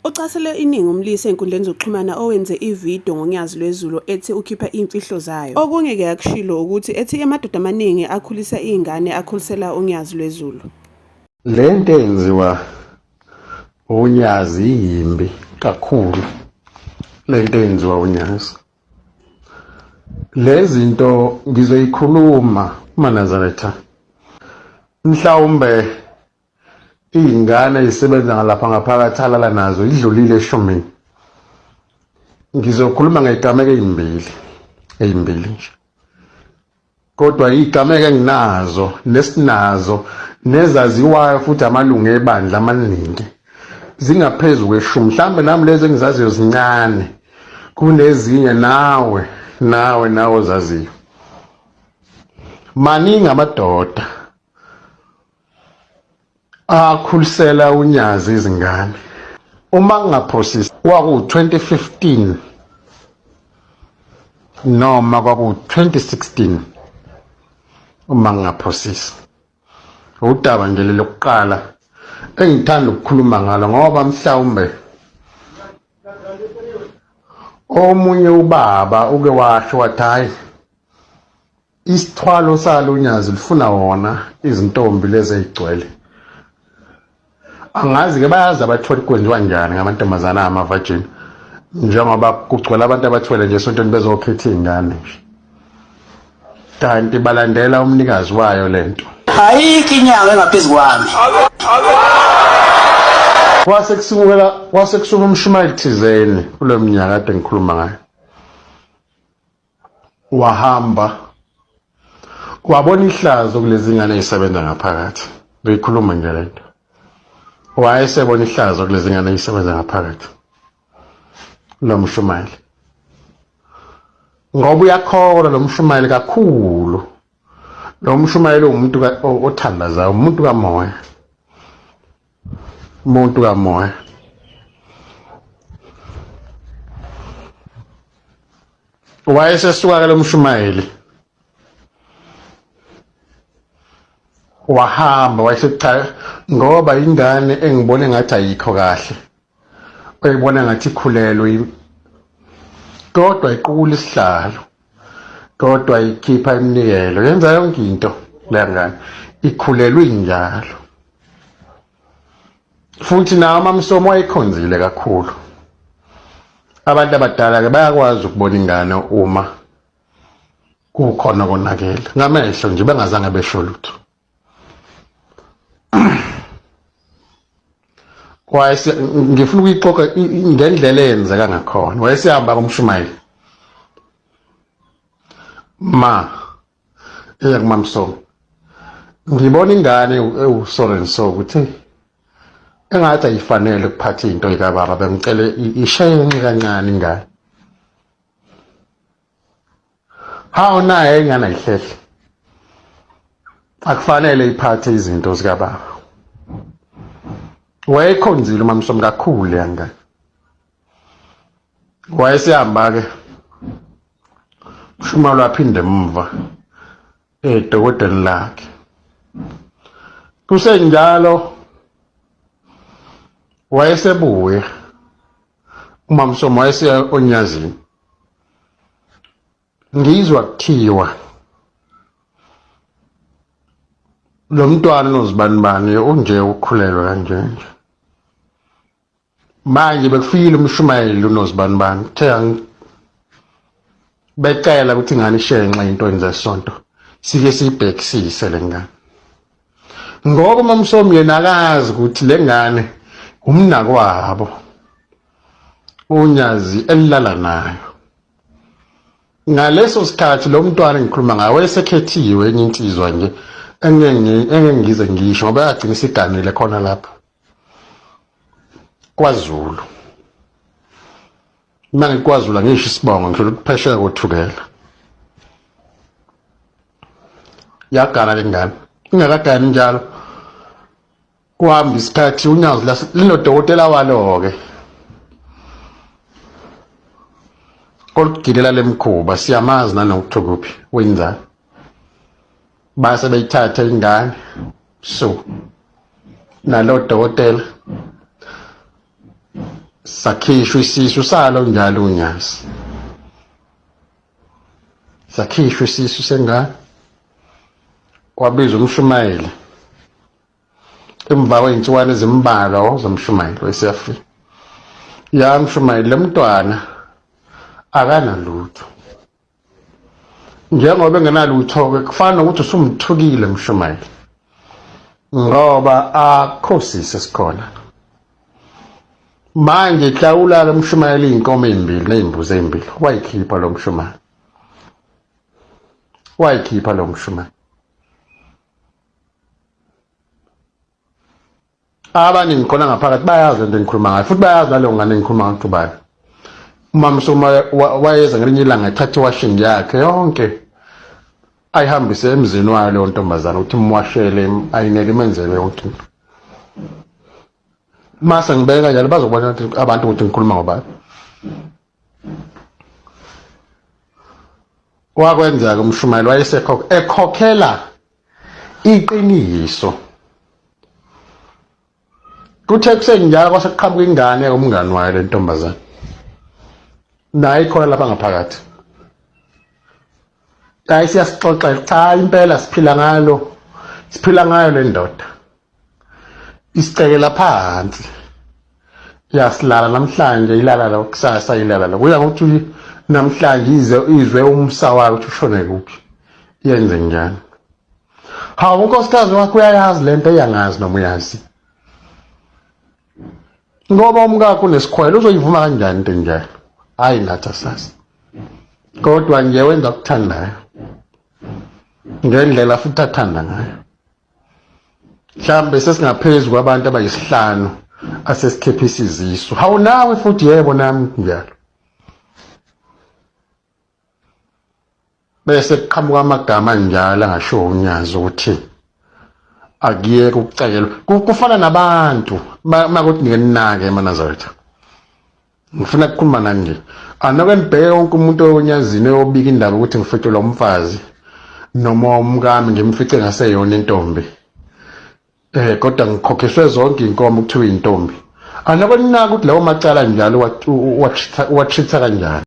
Ucasele iningi umlisa enkundleni zokuxhumana owenze ividiyo ngoNyazi lwezulu ethi ukhipha imfihlo zayo. Okunye ke akushilo ukuthi ethi amadoda amaningi akhulisa izingane akhulisela uNyazi lwezulu. Le nto enziwa uNyazi yimbi kakhulu le nto enziwa uNyazi. lezinto ngizoyikhuluma manazaretha mhlawumbe iy'ngane zisebenza ngalapha ngaphakathi alala nazo idlulile eshumini ngizokhuluma ngey'gameko ey'mbili ey'mbili nje kodwa igameko enginazo nesinazo nezaziwayo futhi amalungu ebandla amaningi zingaphezu kweshumi mhlawumbe nami lezi engizaziyo zincane kunezinye nawe nawe nawe ozaziyo maningi amadoda akhulisela unyazi izingane uma ngingaphosisi kwaku-2015 noma kwaku-2016 uma ngingaphosisi udaba nje lelokuqala engithanda ukukhuluma ngalo ngoba mhlawumbe omunye ubaba uke washo wathi hhayi Isithwalo salo nyazi lifuna wona izintombi lezi ezigcwele. Angazi ke bayazi abathwele kwenziwa njani ngamantombazana ama virgin njengoba kugcwele abantu abathwele nje sontweni bezokhetha izingane nje. Kanti balandela umnikazi wayo lento. Ayikho inyanga engaphezu kwami. Kwase kusukela kwase kusuka umshumayeli thizeni kuleminyaka kade ngikhuluma ngayo. wahamba wabona ihlazo kulezi ngane ezisebenza ngaphakathi beyikhuluma nje le nto wayesebona ihlazo kulezi ngane ezisebenza ngaphakathi lo mshumayeli ngoba uyakholwa lo mshumayeli kakhulu lo mshumayeli uwumuntu othandazayo umuntu kamoya Muntu kamoya. Wayesesuka ke lo mshumayeli. Wahamba wayesethi cha ngoba ingane engibone ngathi ayikho kahle. oyibona ngathi ikhulelwe todwa iqukula isihlalo todwa ikhipha iminikelo yenza yonke into leya ngane ikhulelwe injalo futhi nawo amamsomo wayekhonzile kakhulu abantu abadala-ke bayakwazi ukubona ingane uma kukhona konakele ngamehlo nje bengazange besho lutho wayese ngifuna ukuyixoxa ngendlela eyenzeka ngakhona wayesehamba kumshumayeli ma eya kumamsongo ngibona ingane ewusoren so ukuthi engathi ayifanele ukuphatha into yikababa bengicele isheye enxe kancane ingane hawu naye ingane ayihlehle akufanele iphathe izinto zikababa wayekhonzile umamsomi kakhulu leya ngane wayesihamba-ke ushuma lwaphinde emuva edokodeni lakhe kusenjalo wayesebuya umamsomo wayeseya onyazini ngizwa kuthiwa lo mntwana unozibanibani unje ukhulelwe kanjenje manje bekufikile umshumayeli unozibanibani uthe becela ukuthi ingane ishenxe into enze sonto sike siyibhekisise le ngane ngoba umamsomi yena akazi ukuthi le ngane umnakwabo unyazi elilala nayo ngaleso sikhathi lo mntwana ngikhuluma ngayo wayesekhethiwe enye insizwa nje engengize ngisho ngoba yagcina isiganile khona lapho kwazulu mina ngikwazula ngisho isibongo ngidlula ukuphesheka kothukela yagana le ngane ingakagani njalo kuhamba isikhathi unyazi linodokotela walo-ke olugilela le mkhuba siyamazi nanokuthi kuphi wenzani base beyithatha ingane so nalo dokotela sakhishwa isisu salo njalo unyasi sakhishwa isisu sengane wabiza umshumayeli emva kwey'nsukwani ezimbalwa wawuzomshumayeli weseafrika yamshumayeli le mntwana akanalutho njengoba engenalutho-ke kufana nokuthi usumthukile mshumayeli ngoba akho sisi esikhona manje hlawula lo mshumayeli iy'nkomo ey'mbili ney'mbuzi ey'mbili wayikhipha lo mshumayeli wayikhipha lo mshumayeli abaningi khona ngaphakathi bayazi lento engikhuluma ngayo futhi bayazi naleyo ngane engikhuluma ngayo ubani umama soma wayeza ngelinye ilanga ethatha iwashing yakhe yonke ayihambise emzini wayo leyo ntombazane ukuthi imwashele ayinele imenzele yonke into mase ngibeke kanjalo bazobona abantu ukuthi ngikhuluma ngobani wakwenzeka umshumayeli wayesekhokhela iqiniso kuthe kusenjalo kwase kuqhamuka ingane umngani wayo le ntombazane naye ikhona lapha ngaphakathi hayi siyasixoxela cha impela siphila ngalo siphila ngayo le ndoda isicekela phansi yasilala namhlanje ilala la kusasa ilala la kuya ngokuthi namhlanje ize izwe umsa wayo ukuthi ushone kuphi yenze njani hawu unkosikazi wakho uyayazi le nto eyangazi noma uyazi ngoba umkakho unesikhwele uzoyivuma kanjani into enjalo hhayi nathi asazi kodwa nje wenza okuthandayo ngendlela futhi athanda ngayo mhlambe sesingaphezu kwabantu abayisihlanu asesikhepha isizisu hawu nawe futhi yebo nami njalo bese kuqhamuka amagama njalo angasho unyazi ukuthi akuyeke ukucekelwa kufana nabantu makuthi nike ninake emanazaretha ngifuna ukukhuluma nani nje anoke nibheke wonke umuntu onyazini oyobika indaba ukuthi ngificelwa umfazi noma umkami ngimfice ngaseyona intombi eh kodwa ngikhokhiswe zonke inkomo kuthiwa intombi anoke ninaka ukuthi lawo macala njalo watreat-a kanjani